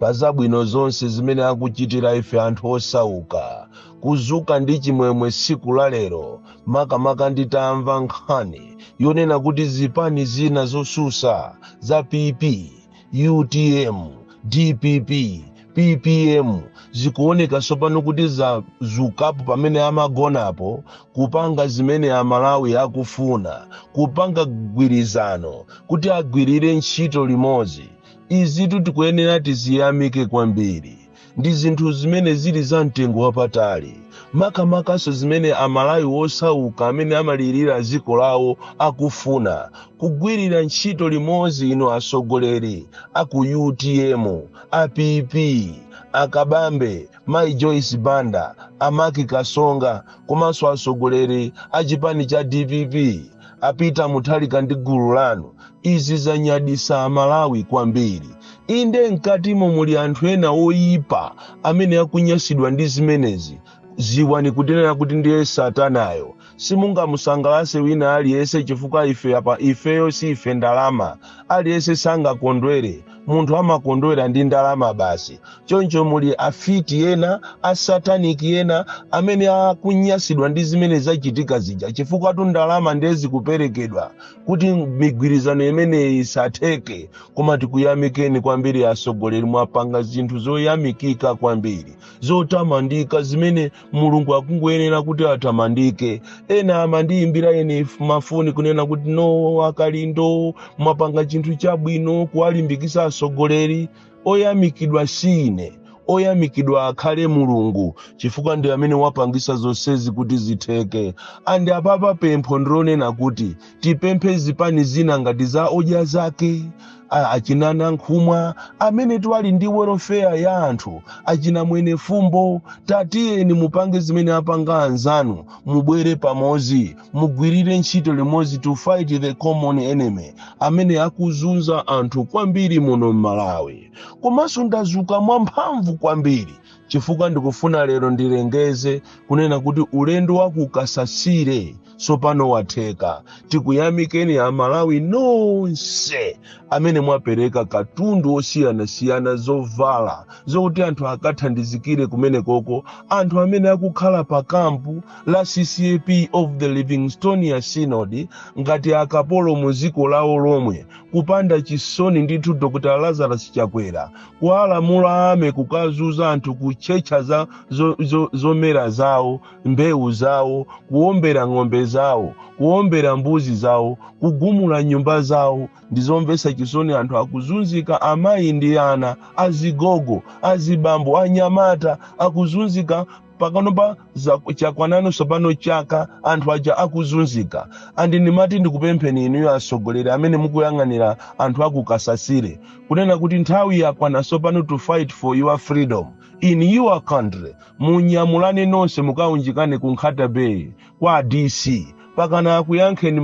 pa zabwino zonse zimene akuchitira ife anthu osauka kuzuka ndi chimwemwe tsiku la lero makamaka nditamva nkhani yonena kuti zipani zina zosusa za pp utm dpp ppm zikuoneka tsopano kuti zazukapo pamene amagonapo kupanga zimene amalawi akufuna kupanga mgwirizano kuti agwirire ntchito limodzi Izitu tikuyenera tiziyamike kwambiri. Ndi zinthu zimene zili za mtengo wapatali, makamakanso zimene Amalawi osauka amene amalirira dziko lawo akufuna, kugwirira ntchito limodzi inu atsogoleri a ku utm, a PP, a Kabambe, Mayi Joyce Banda, a Mark Katsonga komanso atsogoleri a chipani cha dpp. A Peter Mutharika ndi gulu lanu, izi zanyadisa Amalawi kwambiri. Inde mkatimo muli anthu ena oyipa amene akunyasidwa ndi zimenezi. Ziwani kunena kuti ndiye satanayo. Simungamusangalase wina aliyese chifukwa ife apa ifeyo si ife ndalama. Aliyese sangakondwere. munthu amakondwera ndi ndalama basi choncho muli afiti ena asataniki ena amene akunyasidwa ndi zimene zachitika zija chifukwatu ndalama ndiye zikuperekedwa kuti migwirizano imeneyi isatheke koma tikuyamikeni kwambiri atsogoleri mwapanga zinthu zoyamikika kwambiri zotamandika zimene mulungu akungoyenera kuti atamandike ena amandiyimbira ine mafoni kunena kuti no a Kalindo mwapanga chinthu chabwino kuwalimbikisa atsogoleri oyamikidwa si ine oyamikidwa akhale mulungu chifukwa ndi amene wapangisa zonsezi kuti zitheke and apapa pempho ndi lonena kuti tipemphe zipani zina ngati za Odya Zake A- achina Nankhumwa amene ati ali ndi welfare ya anthu achina Mwenifumbo tatiyeni mupange zimene apanga anzanu mubwere pamodzi mugwirire ntchito limodzi to fight the common enemy amene akuzunza anthu kwambiri muno m'malawi komanso ndazuka mwamphamvu kwambiri chifukwa ndikufuna lero ndilengeze kunena kuti ulendo wa ku Kasasile tsopano watheka tikuyamikeni amalawi nonse amene mwapereka katundu osiyanasiyana zovala zokuti anthu akathandizikire kumeneko ko anthu amene akukhala pa kampu la ccap of the livingstonia synod ngati akapolo mu dziko lawo lomwe kupanda chisoni ndithu dr lazarus chakwera kuwalamula army kukazunza anthu kutchetcha za zo, zo, zomera zawo mbewu zawo, kuwombera ng'ombe zawo, kuwombera mbuzi zawo, kugumula nyumba zawo. Ndi zomvetsa chisoni anthu akuzunzika, amayi ndi ana, azigogo, azibambo, anyamata akuzunzika pakanopa chakwanano tsopano chaka anthu aja akuzunzika andi ndimati ndikupempheni inuyo atsogoleri amene mukuyang'anira anthu akukasasire kunena kuti nthawi yakwana tsopano to fight for your freedom in your country munyamulane nonse mukaunjikane ku nkhata bay kwa dc pakana akuyankheni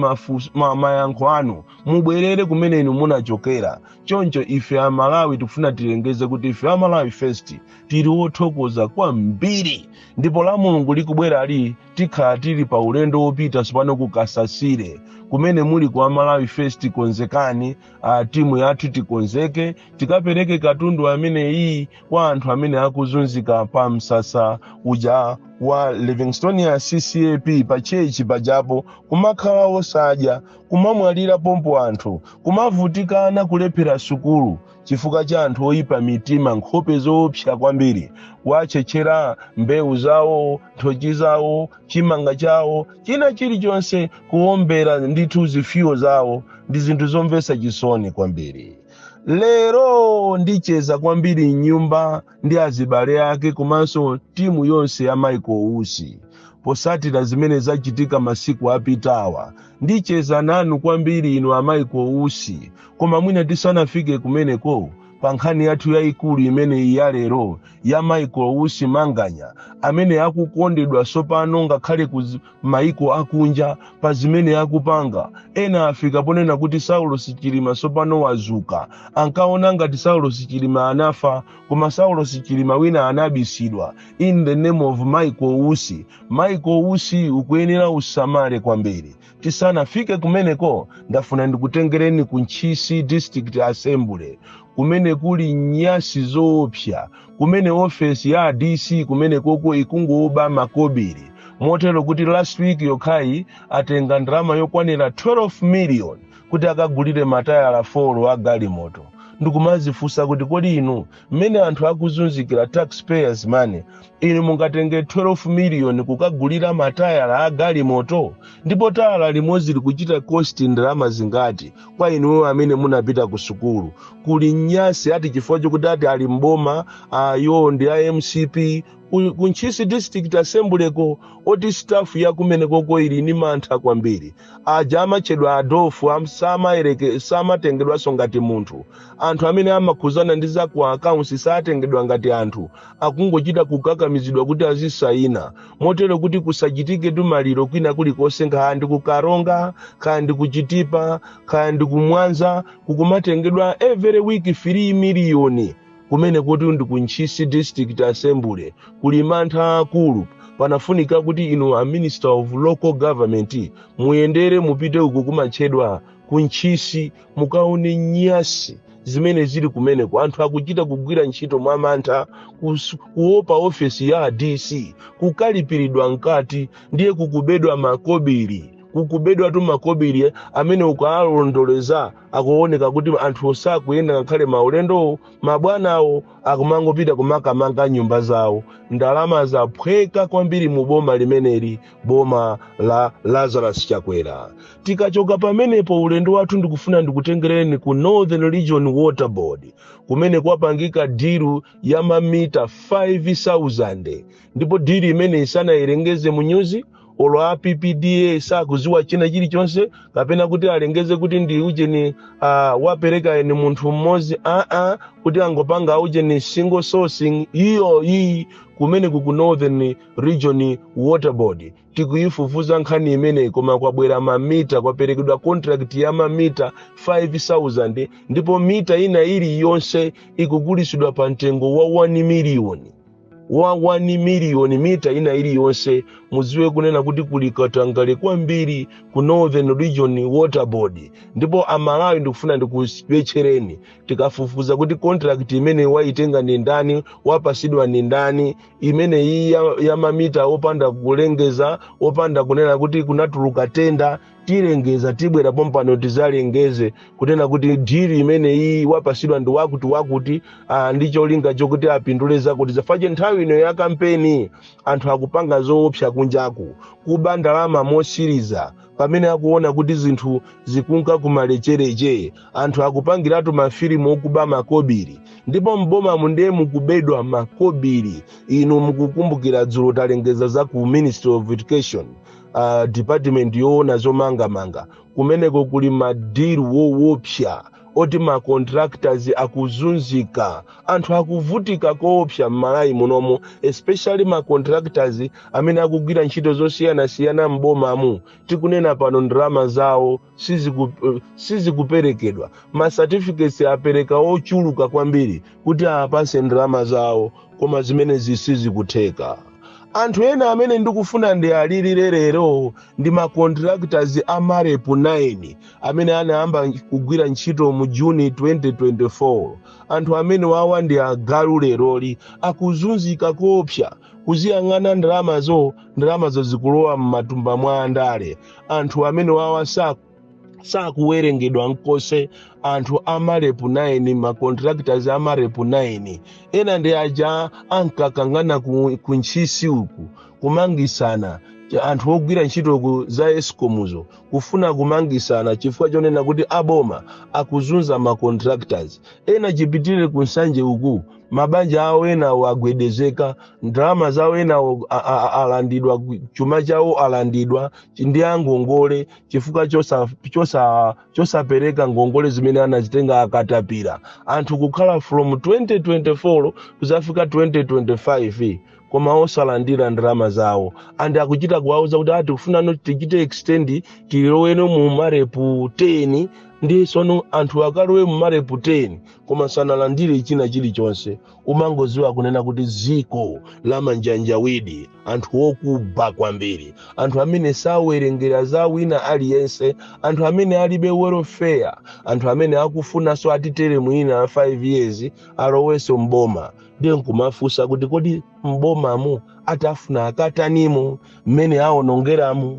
mayankho anu mubwerere kumene inu munachokera choncho ife amalawi tikufuna tilengeze kuti ife amalawi first tili wothokoza kwambiri ndipo la mulungu likubwerali tikhala tili pa ulendo wopita sopano ku kasasire kumene muli kwa amalawi first konzekani a timu yathu tikonzeke tikapereke katundu amene iyi kwa anthu amene akuzunzika pa msasa uja wa livingstonia ccap pa tchetchi pajapo kumakhala osadya kumamwalira pompo anthu kumavutikana kulephera sukulu chifukwa cha anthu oyipa mitima nkhope zoopsa kwambiri kuwatchetchera mbewu zawo nthochi zawo chimanga chawo china chilichonse kuwombera ndithu zifuyo zawo ndi zinthu zomvetsa chisoni kwambiri lero ndicheza kwambiri mnyumba ndi azibale ake komanso timu yonse ya michael usi posatira zimene zachitika masiku apitawa ndicheza nanu kwambiri inu a michael usi koma mwina tisanafike kumeneko pa nkhani yathu yayikulu imene ya lero ya michael usi manganya amene akukondedwa sopano ngakhale kuzi- maiko akunja pa zimene akupanga ena afika ponena kuti saulos chilima tsopano wazuka ankaona ngati saulos chilima anafa koma saulos chilima wina anabisidwa in the name of michael usi michael usi ukuyenera usamale kwambiri tisanafike kumeneko ndafuna ndikutengereni ku ntchisi district assembly kumene kuli nyasi zoopsa kumene ofesi ya a dc kumenekoko ikungoba makobiri motero kuti last week yokhayi atenga ndalama yokwanira 12 million kuti akagulire matayala 4 a galimoto ndikumazifunsa kuti kodi inu mmene anthu akuzunzikira taxpayers money Inu mungatenge 12 miliyoni kukagulira matayala a galimoto? Ndipo tayala limodzi likuchita cost ndalama zingati kwa inuyo amene munapita kusukulu? Kuli nyasi ati chifukwa chokuti ati ali m'boma iwo ndi a mcp ku ntchisi district assembly ko oti staff yakumenekoko ili ni mantha kwambiri aja amatchedwa adofu am- samayereke- samatengedwanso ngati munthu anthu amene amakhuzana ndi za ku akauntsi satengedwa ngati anthu akungochita kukakamizidwa kuti azisayina motero kuti kusachitike timaliro kwina kulikonse nkaya ndi ku Karonga kaya ndi ku Chitipa kaya ndi ku Mwanza kukumatengedwa every week 3 miliyoni kumene koti ndi ku ntchisi district assembly kuli mantha aakulu panafunika kuti inu a minister of local government muyendere mupite uku kumatchedwa ku ntchisi mukaone nyasi zimene zili kumeneko anthu akuchita kugwira ntchito mwa mantha kus- kuopa ofesi ya dc kukalipiridwa mkati ndiye kukubedwa makobiri kukubedwatu makobiri amene ukaalondoleza akuoneka kuti anthuwo sakuyenda ngakhale maulendowo mabwanawo akumangopita kumakamanga nyumba zawo ndalama zaphweka kwambiri mu boma limeneli boma la lazarus chakwera tikachoka pamenepo ulendo wathu ndikufuna ndikutengereni ku northern region water board kumene kwapangika diru ya mamita 5000 ndipo diru imeneyi sanayilengeze mu nyuzi olo a ppda sakuziwa china chilichonse kapena kuti alengeze kuti ndi ujeni uh, wapereka eni munthu mmodzi aa kuti angopanga ujeni single sourcing iyayi kumene ku northern region water board tikuyifufuza nkhani imeneyi koma kwabwera mamita kwaperekedwa contract ya mamita 5000 ndipo mita ina iliyonse ikugulisidwa pa mtengo wa 1 miliyoni wa 1 miliyoni mita ina iliyonse muziwe kunena kuti kuli katangale kwambiri ku northern region water board ndipo amalawi ndikufuna ndikubetchereni tikafufuza kuti contract imeneyi waitenga ndi ndani wapasidwa ndi ndani imene iyi ya, ya mamita opanda kulengeza opanda kunena kuti kunatuluka tenda tilengeza tibwera pompano tizalengeze kunena kuti diru imeneyi wapasidwa ndi wakuti wakuti ah, ndi cholinga chokuti apindule zakuti zafache nthawi ino ya kampeni anthu akupanga zoopsa kunjaku kuba ndalama mosiriza pamene akuona kuti zinthu zikunka kumalechereche anthu akupangiratu mafilimu okuba makobiri ndipo m'bomamu ndiye mukubedwa makobiri inu mukukumbukira dzulo talengeza za ku ministry of education uh, department yoona zomangamanga kumeneko kuli madiru wowopsa oti macontractors akuzunzika anthu akuvutika koopsa m'malawi munomo especially macontractors amene akugwira ntchito zosiyanasiyana m'bomamu tikunena pano ndalama zawo siziku- eh, sizikuperekedwa ma certificates apereka ochuluka kwambiri kuti apatsidwe ndalama zawo koma zimenezi sizikutheka anthu ena amene ndikufuna ndiwalilire lero ndi ma contractors a MAREP 9 amene anayamba kugwira ntchito mu June 2024 anthu amenewawa ndi agalu leroli akuzunzika koopsa kuziyang'ana ndalamazo ndalamazo zikulowa m'matumba mwa andale anthu amenewawa sa- sakuwerengedwa nkomwe anthu a MAREP 9 macontractors a MAREP 9 ena ndi aja ankakangana ku, ku Ntchisi uku kumangisana Ch- anthu ogwira ntchito ku za ESCOM-uzo kufuna kumangisana chifukwa chonena kuti aboma akuzunza macontractors ena chipitirire ku Nsanje uku mabanja awo enawo agwedezeka ndalama zawo enawo a- a- a- alandidwa chuma chawo alandidwa chi- ndi angongole chifukwa chosa- chosa- chosapereka ngongole zimene anazitenga akatapira anthu kukhala from 2024 kuzafika 2025 koma osalandira ndalama zawo and akuchita kuwauza kuti ati tikufunano tichite extend tiloweno mu MAREP 10 ndiye tsono anthu akalowe mu MAREP 10 koma sanalandire china chilichonse umangoziwa kunena kuti ziko la anthu awa ndi anthu okuba kwambiri anthu amene sawerengera za wina aliyense anthu amene alibe welfare anthu amene akufunanso atitengere mwina 5 years alowenso mboma ndiye nkumafunsa kuti kodi mbomamu atafuna akatanimo mmene awonongeramo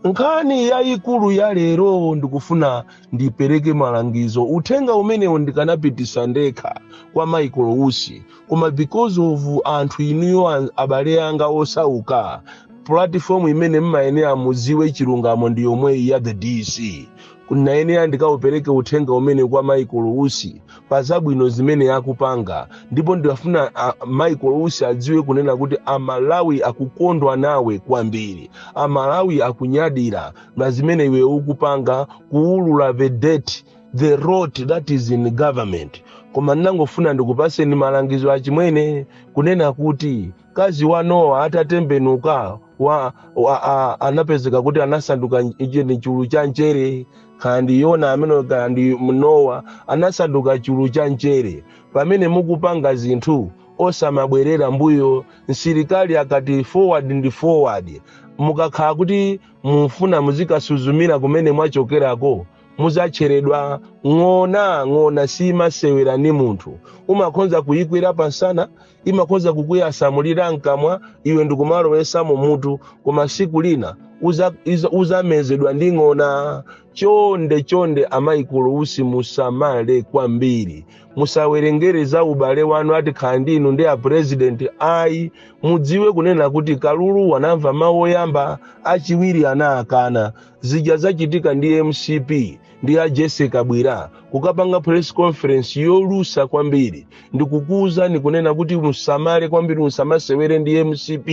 nkhani yayikulu ya lero ndikufuna ndipereke malangizo uthenga umenewu ndikanapitisa ndekha kwa Michael Usi koma because of anthu inuyo an- abale anga osauka platform imene mmayenera muziwe chilungamo ndi yomweyi ya The DC nayenera ndikaupereke uthenga umene kwa Michael Usi pa zabwino zimene akupanga ndipo ndikafuna a, Michael Usi adziwe kunena kuti amalawi akukondwa nawe kwambiri amalawi akunyadira na zimene iwe ukupanga kuulula the dirt the rot that is in government koma ndinangofuna ndikupaseni malangizo achimwene kunena kuti Mkazi wa Nowa atatembenuka wa, wa, a, anapezeka kuti anasanduka nj- ndi chulu cha mchere kaya ndi Yona ameneyo kaya ndi Nowa anasanduka chulu cha mchere pamene mukupanga zinthu osamabwerera mbuyo msilikali akati forward ndi forward mukakhala kuti mufuna muzikasuzumira kumene mwachokerako muzatcheredwa ndi ng'ona ng'ona simasewera ni munthu umakhonza kuyikwera pansana imakhoza kukuyasamulira mkamwa iwe ndikumalowesamo mutu koma siku lina uza- iza- uzamezedwa ndi ng'ona chonde chonde a Michael Usi musamale kwambiri musawerengere za ubale wanu a Tikhala ndi inu ndi apurezidenti ayi mudziwe kunena kuti kalulu anamva mawu oyamba achiwiri anakana zija zachitika ndi mcp ndi a Jessie Kabwila kukapanga press conference yolusa kwambiri ndikukuwuzani kunena kuti musamale kwambiri musamasewere ndi mcp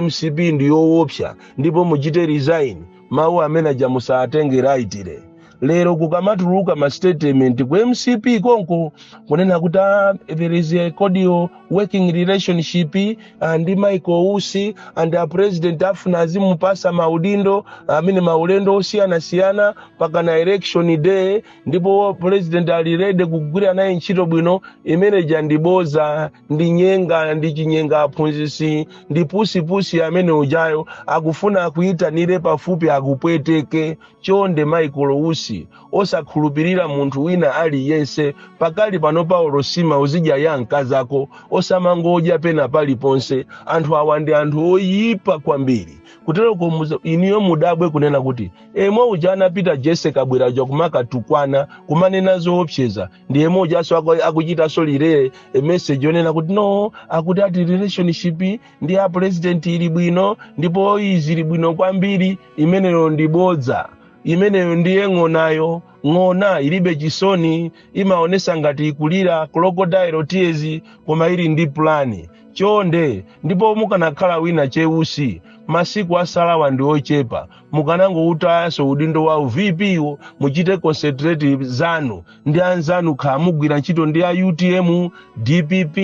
mcp ndi yowopsa ndipo muchite resign mawu amene aja musatenge lightly lero kukamatuluka ma statement ku mcp konko kunena kuti ah, there is a cordial working relationship ah, ndi michael usi and a president afuna azimupasa maudindo amene maulendo osiyanasiyana mpaka na election day ndipo president ali ready kugwira naye ntchito bwino imene ija ndi boza ndi nyenga ndi chinyenga aphunzisi ndi pusipusi amene ujayo akufuna akuyitanire pafupi akupweteke chonde michael usi osakhulupirira munthu wina aliyense pakali pano pawo nsima uzidya ya mkazako osamangodya pena paliponse anthu awa ndi anthu oyipa kwambiri kuteroko muza- inuyo mudabwe kunena kuti emwe uja anapita Jessie Kabwila uja kumakatukwana kumanena zoopseza ndi emwe ujanso aku- akuchitanso release meseji yonena kuti no akuti ati relationship ndi a president ili bwino ndipo izi ili bwino kwambiri imeneyo ndi bodza imeneyo ndiye ng'onayo ng'ona ilibe chisoni imaonesa ngati ikulira crocodile tears koma ili ndi pulani chonde ndipo mukanakhala wina che Usi masiku asalawa ndi ochepa mukanangoutayaso udindo wa u-VP-wo muchite concentrate zanu ndi anzanu kaya mugwira ntchito ndi a utm dpp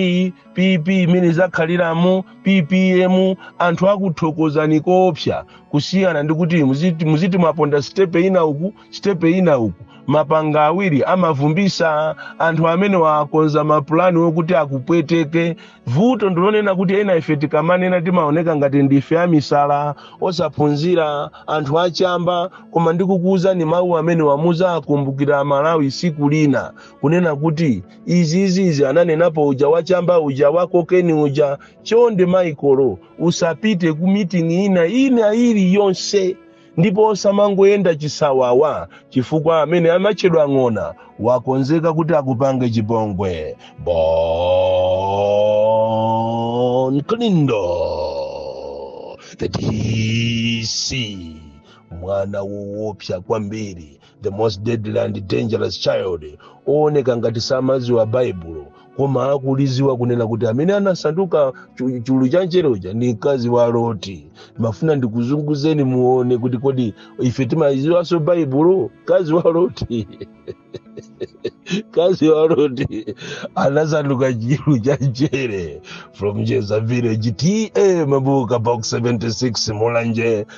pp mmene zakhaliramu ppm anthu akuthokozani koopsa kusiyana ndi kuti muziti, muziti mwaponda sitepe ina uku sitepe ina uku mapanga awiri amavumbisa anthu amene wakonza mapulani wokuti akupweteke vuto ndilonena kuti ena ife tikamanena timaoneka ngati ndife amisala osaphunzira anthu achamba koma ndikukuwuzani mawu amenewa muzawakumbukira malawi siku lina kunena kuti izi izi izi ananenapo uja wachamba uja wakokeni uja chonde Michael usapite ku meeting ina ina ili yonse ndipo osamangoyenda chisawawa chifukwa amene amatchedwa ng'ona wakonzeka kuti akupange chipongwe Bon Kalindo the dc mwana woopsa kwambiri the most deadly and dangerous child ooneka ngati samadziwa baibulo koma akuliziwa kunena kuti amene anasanduka chu- chulu cha nchere uja ndi mkazi wa loti mafuna ndikuzunguzeni muone kuti kodi ife timadziwanso baibulo mkazi wa loti mkazi wa loti anasanduka chulu cha nchere from jeza village ta mabuka box 76 mulanje